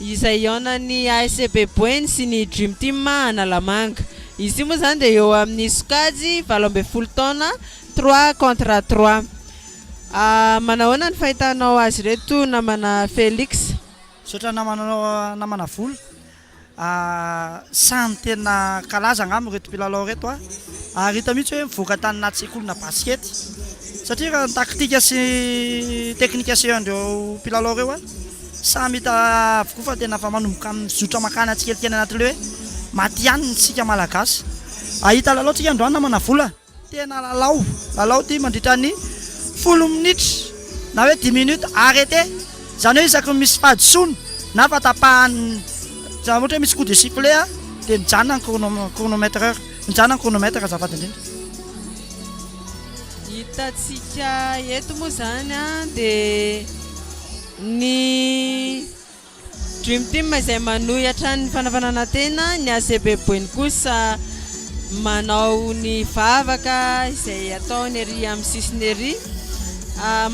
izay hihaonan'ny ASCB Boeny sy ny Dream Team Analamanga. Izy ity moa izany dia eo amin'ny sokajy valo ambin'ny folo taona, trois contre trois. Manahoana ny fahitanao azy ireto namana Felix? Misaotra namana anao namana Volo, samy tena kalaza angamba ireto mpilalao ireto a, ary hita mihitsy hoe mivoaka taninà sekolina basikety, satria raha ny tactique sy ny technique asehon-dreo mpilalao ireo a. Samy hita avokoa fa tena efa manomboka mizotra mankany atsikelikely anatin'ilay hoe matihanina isika Malagasy. Hahita lalao tsika androany namana Vola. Tena lalao, lalao ity mandritra ny folo minitra na hoe dix minutes arrêté, izany hoe isaky ny misy fahadisoana na fa tapahany, izany ohatra hoe misy coup de sifflet dia mijanona ny chrono, chronometreur, mijanona ny chronomètre azafady indrindra. Ny hitantsika eto moa izany dia. Ny Dream Team izay manohy hatrany ny fanafanana tena, ny ACB Boeny kosa manao ny vavaka izay ataony ery amin'ny sisiny ery.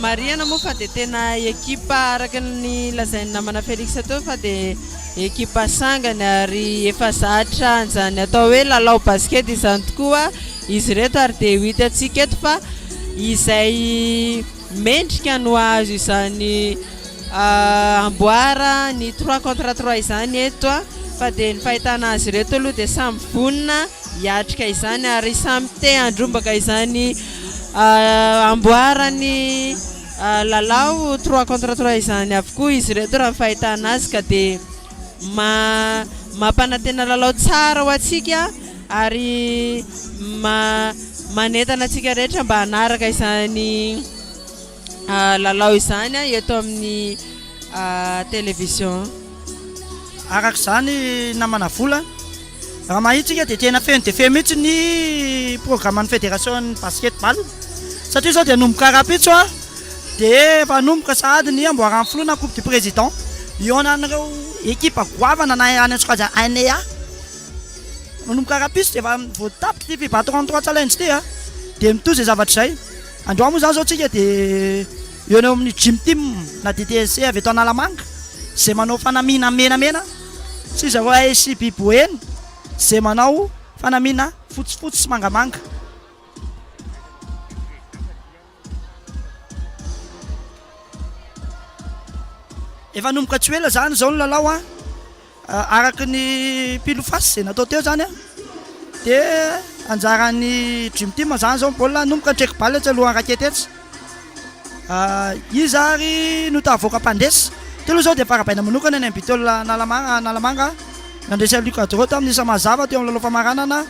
Marihana moa fa dia tena ekipa araka ny lazain'ny namana Felix teo fa dia ekipa sangany ary efa zatra an'izany atao hoe lalao basket izany tokoa izy ireto ary dia ho hitantsika eto fa izay Mendrika ny ho azo izany amboara ny trois contre trois izany eto fa dia ny fahitana azy ireto aloha dia samy vonona hiatrika izany ary samy te handrombaka izany amboara ny lalao trois contre trois izany avokoa izy ireto raha ny fahitana azy ka dia ma mampanantena lalao tsara ho antsika ary ma manentana antsika rehetra mba hanaraka izany ah, lalao izany ah, eto amin'ny ah, télévision. Araka izany namana vola. Raha mahita isika dia tena feno dia feno mihitsy ny programan'ny federasion'ny basket ball satria izao dia hanomboka rahampitso dia efa hanomboka sahady ny amboaran'ny filoha na coupe du président hihaonan'ireo ekipa goavana na any an-tsokajy ANEA. Manomboka rahampitso dia efa vao tapitra ity FIBA 33 challenge ity a dia mitohy izay zavatra izay. Androany moa izany izao isika dia eo eo amin'ny gym team na DTSC avy eto Analamanga izay manao fanamiana menamena. Tsy iza hoa Esi Bi Boeny ze manao fanamiana fotsifotsy sy mangamanga. Efa hanomboka tsy ho ela zany zao ny lalao an! Araka ny pile face ze natao teo zany an! Dia anjaran'ny Dream Team zany zao ny baolina hanomboka, ny trek-balle tsy alohan'ny raketetsy. Iza ary no tahavoaka mpandresy? Teo aloha izao dia farabaina manokana ny an'i Bitola Analamanga, Analamanga, nandresy an'i Luc Adro tamin'ny isa mazava teo amin'ny lalao famaranana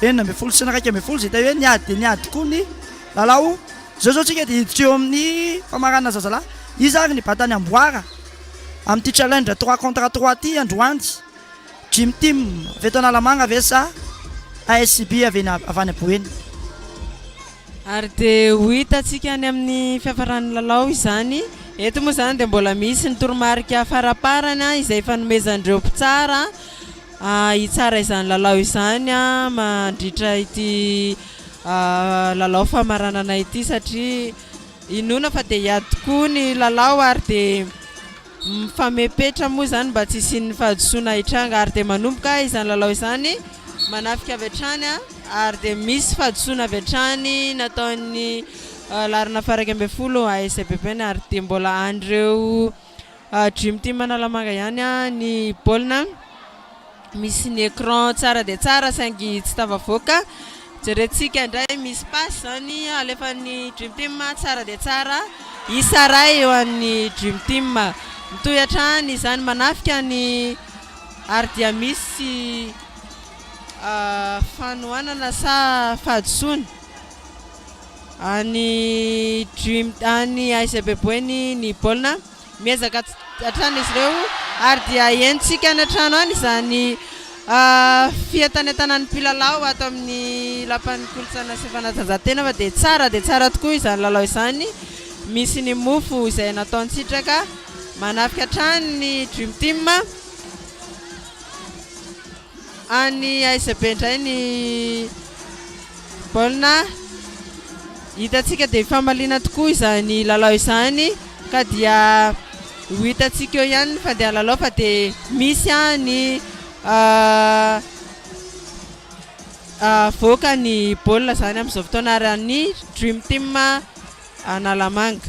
enina ambin'ny folo sy ny iraika ambin'ny folo izay teo hoe niady dia niady tokoa ny lalao. Izao izao isika dia hiditra eo amin'ny famaranana zazalahy. Iza ary ny batan'i Amboara amin'ity challenge trois contre trois ity androany? Dream Team avy eto Analamanga ve sa ASCB avy eny avy any Boeny? Ary dia ho hitantsika any amin'ny fiafaran'ny lalao izany. Eto moa izany dia mbola misy ny toromarika faraparany izay ifanomezan'ireo mpitsara hitsara izany lalao izany mandritra ity lalao famaranana ity satria inoana fa dia hiady tokoa ny lalao ary dia Mifame petra moa izany mba tsy hisian'ny fahadisoana hitranga ary dia manomboka izany lalao izany manafika avy hatrany ary dia misy fahadisoana avy hatrany nataon'ny laharana faha-iraika ambin'ny folo ASBPN ary dia mbola an'ireo Dream Team Analamanga ihany ny baolina. Misy ny écran tsara dia tsara saingy tsy tafavoaka. Jerentsika indray misy passe izany alefan'ny Dream Team tsara dia tsara. Isa iray eo an'ny Dream Team. Mitohy hatrany izany manafika ny ary dia misy fanohanana sa fahadisoana any Dream any ASC Beboeny ny baolina. Miezaka hatrany izy ireo ary dia henontsika any an-trano any izany fientanentanan'ny mpilalao ato amin'ny Lapan'ny Kolontsaina sy Fanatanjahantena fa dia tsara dia tsara tokoa izany lalao izany. Misy ny mofo izay nataon-tsitraka. Manafika hatrany ny Dream Team. Any aiza be indray ny baolina. Hitantsika dia famaliana tokoa izany lalao izany ka dia ho hitantsika eo ihany ny fandehan'ny lalao fa dia misy any avoaka ny baolina izany amin'izao fotoana ary ny Dream Team Analamanga.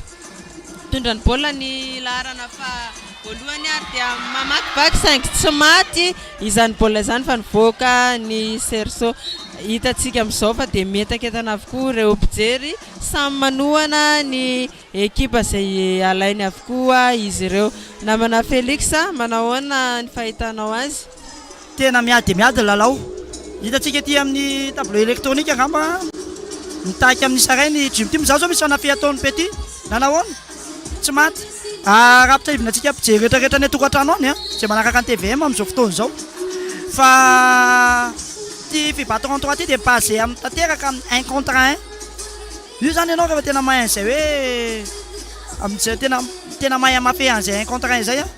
Mitondra ny baolina ny laharana faha voalohany ary dia mamakivaky saingy tsy maty izany baolina izany fa nivoaka ny cerceau. Hitantsika amin'izao fa dia mientakentana avokoa ireo mpijery, samy manohana ny ekipa izay alainy avokoa izy ireo. Namana Felix, manahoana ny fahitanao azy? Tena miady dia miady ny lalao. Hitantsika ety amin'ny tableau électronique angamba mitaky amin'ny Saray ny Dream Team. Izaho izao misy fanahy ataon'i Pety na nahoana, tsy maty. Ah, raha ampitsiahivina antsika mpijery rehetra rehetra any an-tokantrano any, izay manaraka ny tvm amin'izao fotoana izao, fa ity fibattron trois ity dia basé amin'ny tanteraka amin'ny un contre un. Io zany ianao rehefa tena mahay an'izay hoe amin'izay tena tena mahay hamapea an'izay un contre un izay an!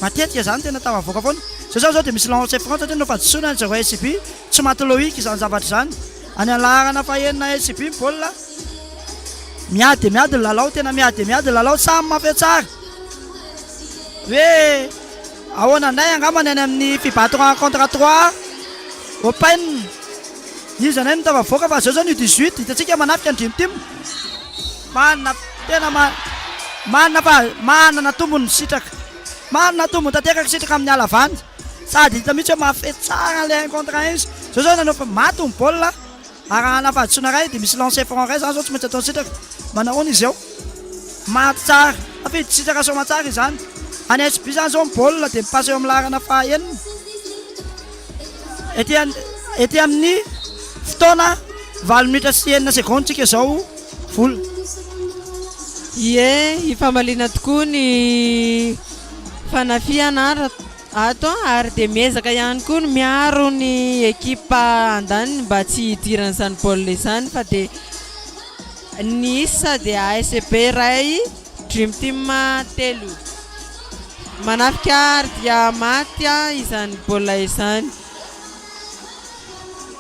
matetika izany tena tafavoaka foana. Izao izany izao dia misy lancé franc satria nompadisoana ny zareo SJB, tsy maty loic izany zavatra izany. Any amin'ny laharana fahenina SJB ny baolina, miady dia miady ny lalao, tena miady dia miady ny lalao, samy mamapea tsara hoe ahoana indray angamba ny any amin'ny fibato un contre trois open. Iza nay no tafavoaka fa zao zany U 18 hitantsika manafika ny dream team manana tena manana fa manana tombony sitraka manana tombony tanteraka ny sitraka amin'ny halavany sady hita mihitsy hoe mahafehy tsara an'ilay un contre un izy zao zao nanao fa maty ny baolina arahana fahadisoana iray dia misy lancer franc iray zany zao tsy maintsy ataon'ny sitraka manahoana izy eo maty tsara tafidy sitraka somatsara izany any SB zany zao ny baolina dia mipasa eo amin'ny laharana fahaenina Ety amin'ny fotoana valo minitra sy enina secondes tsika izao vola. Ie, hifamaliana tokoa ny fanafihana ato ary dia miezaka ihany koa ny miaro ny ekipa andaniny mba tsy hidiran'izany baolina izany fa dia ny isa dia ASB iray. Dream Team telo. Manafika ary dia maty izany baolina izany.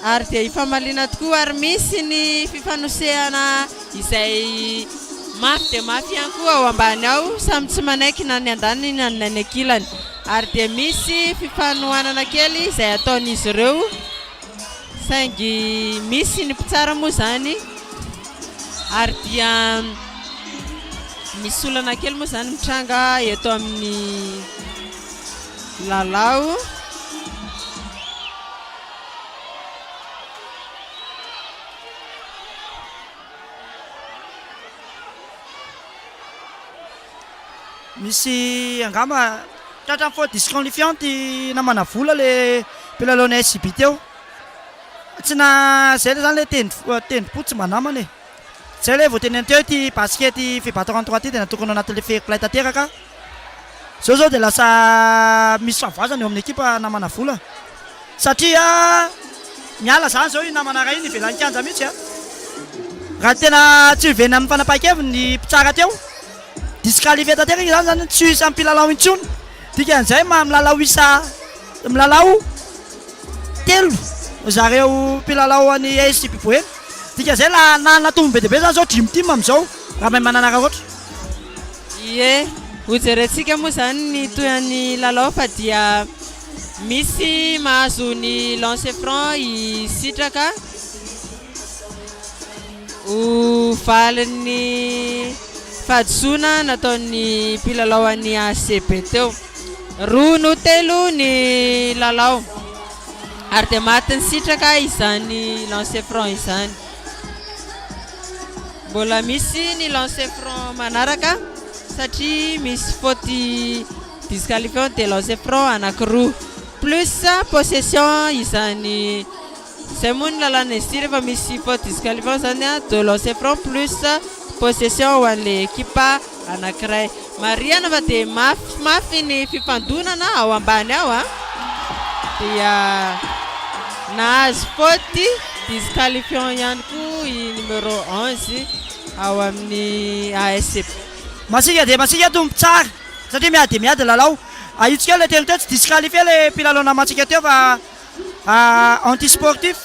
Ary dia hifamaliana tokoa ary misy ny fifanosehana izay mafy dia mafy ihany koa ao ambany ao. Samy tsy manaiky na ny andaniny na ny any ankilany. Ary dia misy fifanohanana kely izay ataon'izy ireo. Saingy misy ny mpitsara moa izany ary dia misy olana kely moa izany mitranga eto amin'ny lalao. Misy angamba tratran'ny faute disqualifiant i namana vola le mpilalon'ny SJB teo. Tsy na zay le zany le tendro tendrom-po tsy mba namana e. Zay le vao tenenina teo ity basket FIBA 33 ity dia natokana anatin'ilay fair play tanteraka. Zao zao dia lasa misy fahavoazana eo amin'ny ekipa namana vola. Satria miala zany zao iny namana ray iny ivelan'ny kianja mihitsy a! Raha tena tsy hovenina amin'ny fanapahan-keviny ny mpitsara teo, disqualifier tanteraka izany zany hoe tsy ho isan'ny mpilalao intsony. Dikan'izay maha milalao isa milalao telo zareo mpilalao an'i ASJP Boeny. Dikan'izay la nanana tombony be dia be zany zao Dream Team amin'izao raha mahay mananarakoatra. Ie, hojerentsika moa zany ny tohin'ny lalao fa dia. Misy mahazo ny lancer franc i Sitraka ho valin'ny fahadisoana nataon'ny mpilalao an'ny HCB teo. Roa no telo ny lalao ary dia matin'i Sitraka izany lancer franc izany. Mbola misy ny lancer franc manaraka satria misy faute Disqualifiant de lancer franc anankiroa plus possession izany izay moa ny lalàna izy ity rehefa misy faute disqualifiant izany a deux lancer franc plus possession ho an'ilay ekipa anankiray. Marihana fa dia mafimafy ny fifandonana ao ambany ao a. Dia nahazo faute disqualifiant ihany koa i numéro onze ao amin'ny ASP. Masiaka dia masiaka tompon-tsary. satria miady dia miady ny lalao, ahitsiko eo ilay teny teo tsy disqualifier ilay mpilalao namantsika teo fa anti sportif,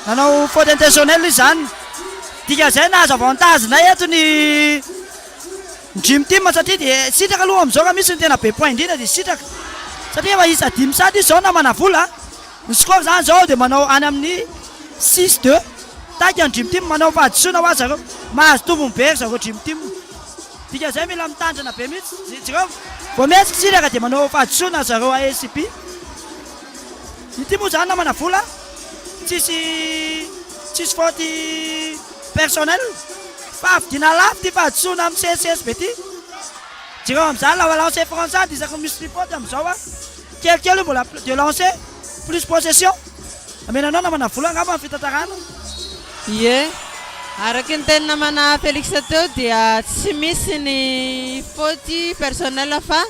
nanao faute intentionnelle izy izany, dikan'izay nahazo avantage indray eto ny dream team satria dia sitraka aloha amin'izao raha misy ny tena be point indrindra dia sitraka satria efa isa dimy sady izy izao na manavola, ny score izany izao dia manao any amin'ny six deux, taika ny dream team manao fahadisoana hoazy zareo, mahazo tombony be ry zareo dream team. Dikan'izay mila mitandrina be mihitsy ny jirama. Vao mihetsika tsiraka dia manao fahadisoana zareo ASP. Ity moa zany namana vola tsisy tsisy faute personnel fa havidiana lafo ity fahadisoana amin'ny CSSB ity. Jereo amin'izany la balance est française isaky ny misy fifaute amin'izao an. Kelikely io mbola de lancer plus possession Amenanao namana vola angamba ny fitantarana. Ie, araky ny teny namana Felix teo dia tsy misy ny faute personnel fa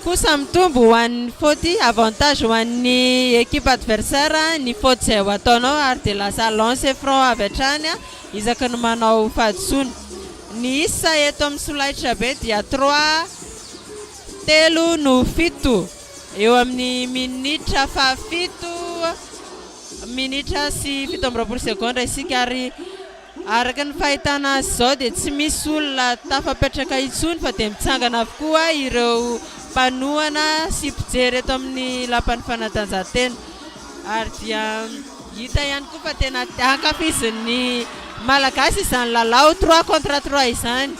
kosa mitombo ho an'ny faute avantage ho an'ny equipe adversaire ny faute izay ho ataonao ary dia lasa lancer franc avy hatrany isaky ny manao fahadisoana. Ny isa eto amin'ny solaitrabe dia trois. Telo no fito, eo amin'ny minitra fahafito minitra sy fito amby roapolo segondra isika ary araka ny fahitana azy izao dia tsy misy olona tafapetraka intsony fa dia mitsangana avokoa ireo mpanohana sy mpijery eto amin'ny lapan'ny fanatanjahantena ary dia hita ihany koa fa tena ankafizin'ny Malagasy izany lalao trois contre trois izany.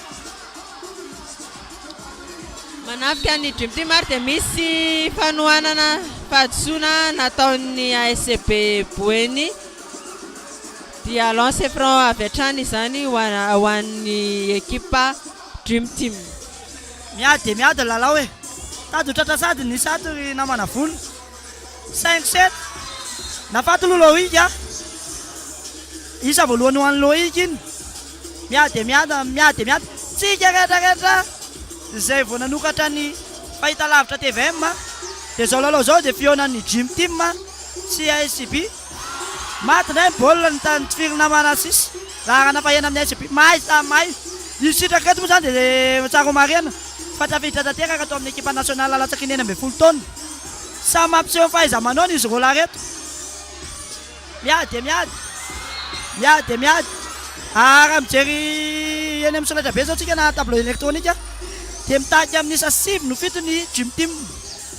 Manafika ny Dream Team ary dia misy fanohanana fahadisoana nataon'ny ASCB Boeny dia lance franc avy hatrany izany ho an'ny ekipa Dream Team. Miady dia miady ny lalao e! Tady ho tratra sady nisy ato ry namana vonona. Cinq sept. Nafaty aloha Loïc a! Isa voalohany ho an'i Loïc iny. Miady dia miady, miady dia miady tsika rehetra rehetra izay vao nanokatra ny fahitalavitra tvm dia izao lalao izao dia fihaonan'ny Gym Team sy ASCB. Maty indray ny baolina ny tanin'ny Tifirina Manassih, laharana faheno amin'ny ASCB. Mahay samy mahay. Ny sitraka eto moa izany dia tsara homarihana fa tafiditra tanteraka tao amin'ny ekipa nasionaly latsaky ny enina ambin'ny folo taona. Samy mampiseho ny fahaiza-manaony izy roalahy ireto. Miady dia miady, miady dia miady. Ah, raha mijery eny amin'ny solaitrabe izao tsika na tableau électronique a, dia mitarika amin'ny isa sivy no fito ny Dream Team.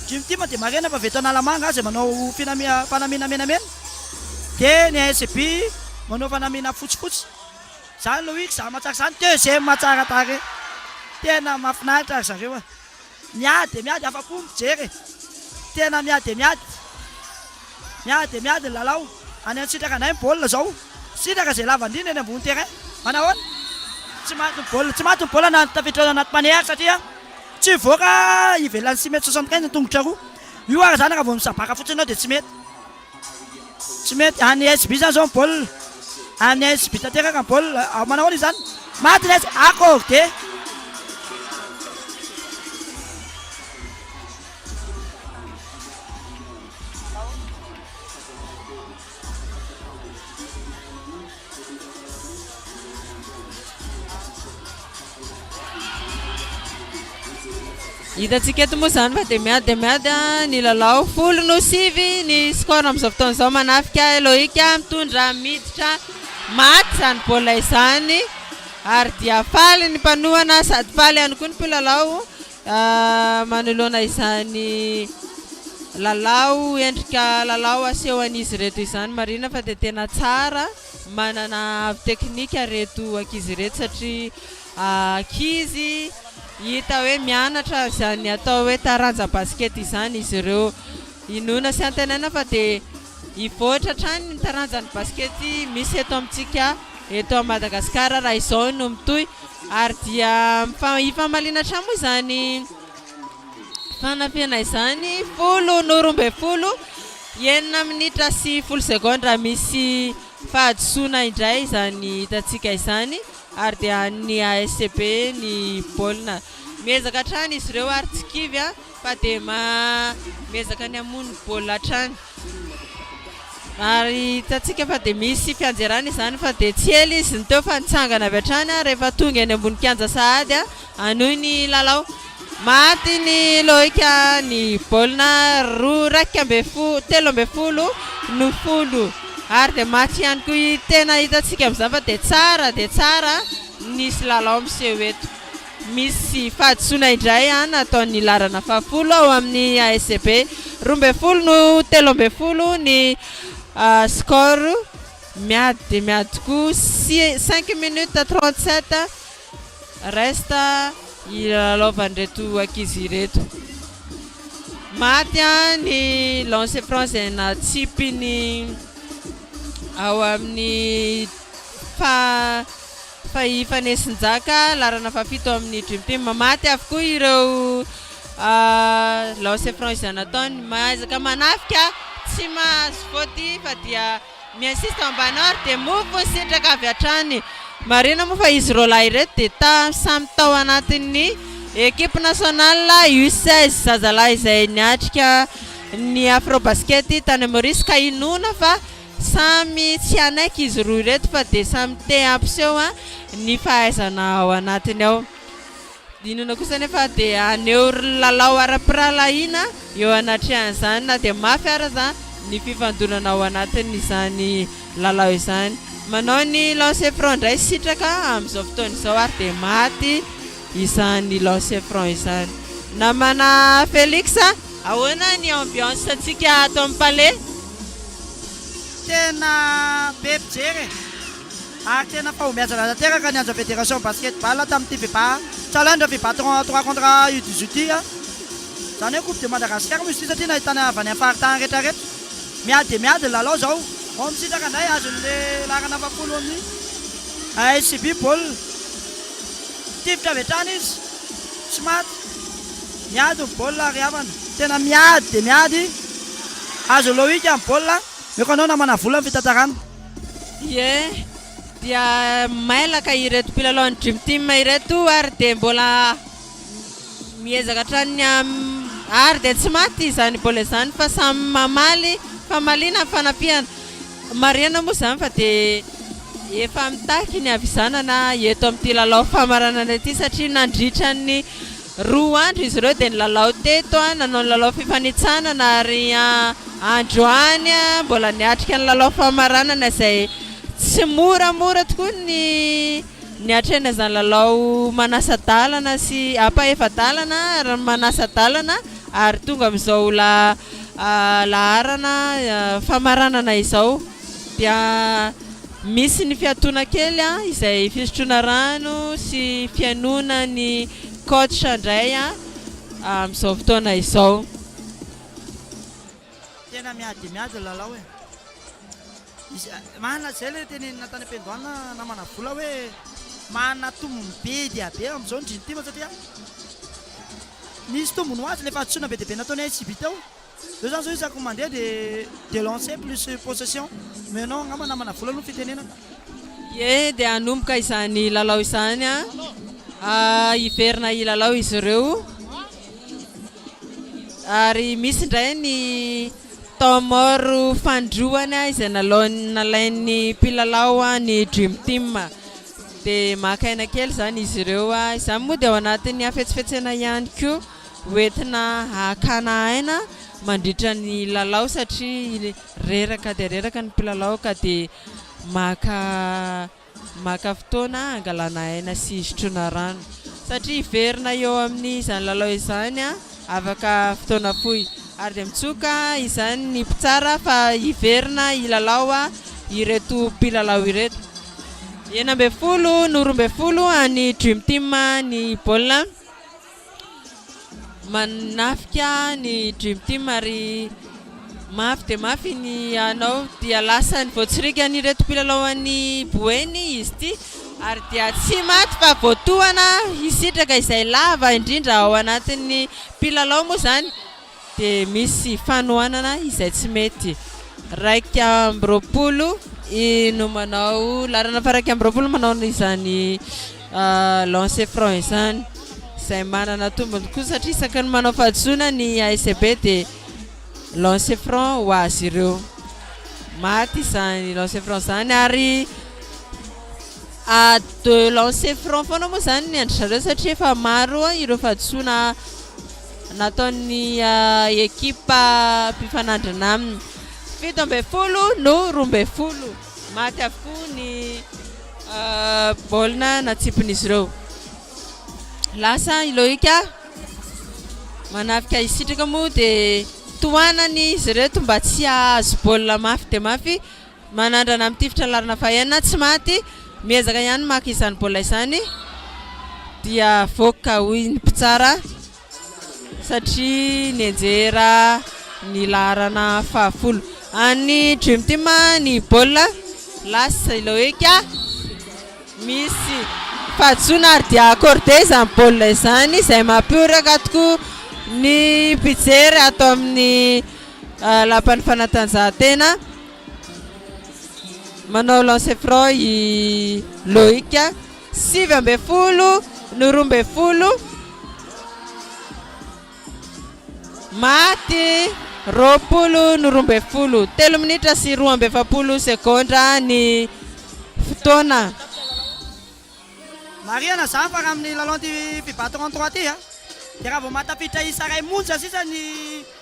Dream Team dia marihina fa avy eto Analamanga izay manao finamia- fanamiana menamena, dia ny ASB manao fanamiana fotsifotsy. Izany Loïc, izaho mahatsara izany, deuxième tsara tarehy. Tena mahafinaritra ry zareo a. Miady dia miady afa-po ny mpijery e! Tena miady dia miady, miady dia miady ny lalao. Any an-tsitraka anay ny baolina izao. Sitraka izay lavan-drindra eny ambony terrain. Manahoana? Tsy maty ny baolina, tsy maty ny baolina na tafiditra anaty panier aza satria tsy hivoaka ivelan'ny six mètres soixante quinze ny tongotra roa. Io ary izany raha vao misabaka fotsiny ianao dia tsy mety. Tsy mety, any SB zany zao ny baolina, any SB tanteraka ny baolina, manao ahoana izany? Maty ny SB, akory dia! Hitantsika eto moa izany fa dia miady dia miady ny lalao. Folo no sivy ny score amin'izao fotoana izao. Manafika Loïc mitondra miditra maty izany baolina izany. Ary dia faly ny mpanohana sady faly ihany koa ny mpilalao. Manoloana izany lalao, endrika lalao asehon'izy ireto izany, marihina fa dia tena tsara, manana avo teknika ireto ankizy ireto satria ankizy hita hoe mianatra izany atao hoe taranja basikety izany izy ireo. Inoana sy antenaina fa dia hivoatra hatrany ny taranjan'ny basikety misy eto amintsika. eto à Madagascar raha izao no mitohy ary dia hifamaliana hatrany moa izany fanafihana izany folo no roa ambin'ny folo enina minitra sy folo secondes raha misy fahadisoana indray izany hitantsika izany ary dia an'ny ASCB ny baolina miezaka hatrany izy ireo ary tsy kivy a. fa dia miezaka ny hamono ny baolina hatrany ary hitantsika fa dia misy fianjerana izany fa dia tsy ela izy no teo fa nitsangana avy hatrany rehefa tonga eny ambony kianja sahady hanohy ny lalao. Maty ny loika ny baolina roa iraika ambin'ny folo telo ambin'ny folo no folo ary dia maty ihany koa tena hitantsika amin'izany fa dia tsara dia tsara nisy lalao miseho eto. Misy fahadisoana indray an ataon'ny laharana fahafolo ao amin'ny ASB. Roa ambin'ny folo no telo ambin'ny folo ny score. Miady dia miady tokoa. Cinq minutes trente sept reste hilalaovan'ireto ankizy ireto. Maty an ny lancer franc izay natsipiny ao amin'ny faha Fa i Fanesinjaka laharana fahafito ao amin'ny Dream Team. Maty avokoa ireo lance franc izay nataony. Maizaka manafika, tsy mahazo faute fa dia mi-insiste ao ambany ary dia move sitraka avy hatrany. Marihina moa fa izy roa lahy ireto dia samy tao anatin'ny equipe nationale U16 zazalahy izay niatrika ny Afrobasket tany Maurice ka inoana fa Samy tsy hanaiky izy roa ireto fa dia samy te hampiseho ny fahaizana ao anatiny ao. Dinana kosa anefa dia haneho lalao ara-pirahalahiana eo anatrehan'izany na dia mafy ary aza ny fifandonana ao anatin'izany lalao izany. Manao ny lancer franc indray Sitraka amin'izao fotoana izao ary dia maty izany lancer franc izany. Namana Felix a! Ahoana ny ambiance-ntsika ato amin'ny Palais? Tena be mpijery e! Ary tena fahombiazana tanteraka ny Anja Fédération Basket Ball tamin'ity fiba Challenge fiba trois trois contre U dix huit ity a! Izany hoe coupe de Madagascar moa izy ity satria nahitana avy any am-paritany rehetra rehetra. Miady dia miady ny lalao izao. Vao misitraka indray azon'ny le laharana fahafolo amin'ny ASCB baolina. Tifitra avy hatrany izy. Tsy maty. Miady ny baolina ry havana. Tena miady dia miady. Azo Loïc ny baolina. Aoka anao namana vola ny fitantarana. Ie, dia mailaka ireto mpilalao ny Dream Team ireto ary dia mbola miezaka hatrany ny ary dia tsy maty izany baolina izany fa samy mamaly famaliana ny fanafihana. Marihina moa izany fa dia efa mitaky ny havizanana eto amin'ity lalao famaranana ity satria nandritra ny Roa andro izy ireo dia nilalao teto, nanao ny lalao fifanintsanana ary androany mbola niatrika ny lalao famaranana izay tsy moramora tokoa ny niatrehana izany lalao manasa-dalana sy ampahefa-dalana ary manasa-dalana ary tonga amin'izao laharana famaranana izao. dia misy ny fiatoana kely a izay fisotroana rano sy fihainoana ny coach indray a amin'izao fotoana izao. Tena miady dia miady ny lalao e! Marina izay ilay teneninà tany am-piandohana namana Bola hoe manana tombony be dia be amin'izao ny Dream Team satria nisy tombony ho azy ilay fahadisoana be dia be nataon'ny ICB teo Zao zany zao isaky ny mandeha dia delancer plus possession mais non angamba namana vola aloha ny fitenenana. Ie dia hanomboka izany lalao izany a! hiverina hilalao izy ireo ary misy indray ny temps mort fanindroany izay nalaony nalain'ny mpilalao ny dream team dia maka aina kely izany izy ireo izany moa dia ao anatin'ny hafetsifetsena ihany koa. ho entina hakana aina mandritra ny lalao satria reraka dia reraka ny mpilalao ka dia maka maka fotoana hangalana aina sy hisotroana rano satria hiverina eo amin'izany lalao izany afaka fotoana fohy ary dia mitsoka izany ny mpitsara fa hiverina hilalao ireto mpilalao ireto. Enina ambin'ny folo no roa ambin'ny folo an'ny Dream Team ny baolina. Manafika ny Dream Team ary mafy dia mafy ny anao dia lasan'ny voatsirikan'ireto mpilalao an'i Boeny izy ity ary dia tsy maty fa voatohana hisitraka izay lava indrindra ao anatin'ny mpilalao moa izany. dia misy fanohanana izay tsy mety. Iraika amby roapolo i no manao laharana faha iraika amby roapolo manao izany lancer franc izany izay manana tombony koa satria isaky ny manao fahadisoana ny ASB dia lancer franc ho azy ireo. Maty izany lancer franc izany ary à deux lancer franc foana moa izany ny an-dry zareo satria efa maro ireo fahadisoana nataon'ny ekipa mpifanandrina aminy. Fito ambin'ny folo no roa ambin'ny folo. Maty avokoa ny baolina natsipin'izy ireo. Lasa i Loïc manafika hisitraka moa dia tohanan'izy ireto mba tsy hahazo baolina mafy dia mafy. Manandrana amin'ny tifitra laharana fahenina, tsy maty, miezaka ihany ny maka izany baolina izany dia voaka hoy ny mpitsara satria nianjera ny laharana fahafolo an'ny Dream Team ny baolina. Lasa ilay hoe ka misy fahadisoana ary dia accordé izany baolina izany izay mampioraka tokoa ny mpijery ato amin'ny lapan'ny fanatanjahantena. Manao lancer franc i Loïc. Sivy ambin'ny folo no roa ambin'ny folo. Maty roapolo no roa ambin'ny folo. Telo minitra sy roa amby efapolo segondra ny fotoana. Marihana izany fa raha amin'ny lalao an'ity mpi-battre en trois ity dia raha vao mahatafiditra isa iray monja sisa ny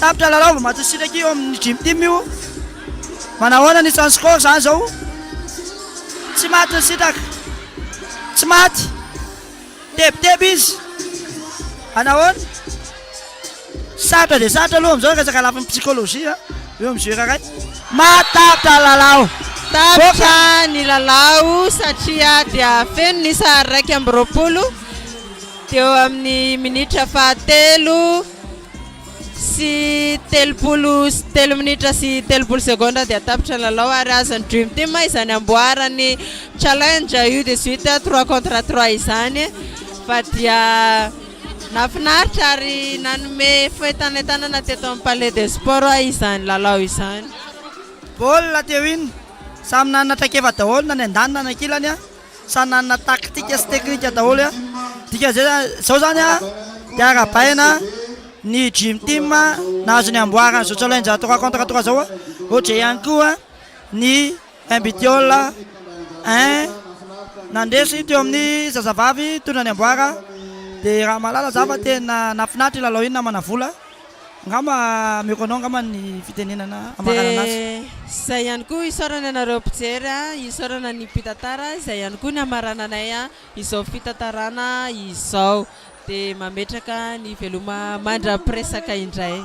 Tapitra lalao vao madio siraky eo amin'ny Dream Team io. Manahoana ny isan'ny score izany izao? Tsy maty ny sitraka. Tsy maty. Tebiteby izy. Anahoana? Sarotra dia sarotra aloha amin'izao resaka lafiny psychologie eo amin'ny joueur iray. Maty tapitra ny lalao. Tapitra ny lalao satria dia feno ny sahary iraika amby roapolo teo amin'ny minitra fahatelo. sy telopolo sy telo minitra sy telopolo segondra dia tapitra ny lalao ary azon'ny Dream Team izany amboarany challenge io de suite trois contre trois izany fa dia nahafinaritra ary nanome fentanentanana teto amin'ny palais des sports izany lalao izany. Baolina teo iny, samy nanana traikefa daholo na ny andaniny na ny ankilany. Samy nanana tactique sy technique daholo, dikan'izay zany, zao zany dia arabaina ny dream team nahazo ny amboara an'izao challenge trois contre trois zao, ohatry zay ihany koa ny mbtiol un nandresy teo amin'ny zazavavy hitondra ny amboara, dia raha mahalala za fa tena nahafinaritra iny lalao iny namana vola. Angamba ameko anao angamba ny fitenenana amarana anazy. Dia izay ihany koa isaorana anareo mpijery a, isaorana ny mpitantara, izay ihany koa ny hamarananay izao fitantarana izao. Dia mametraka ny veloma mandra-piresaka indray.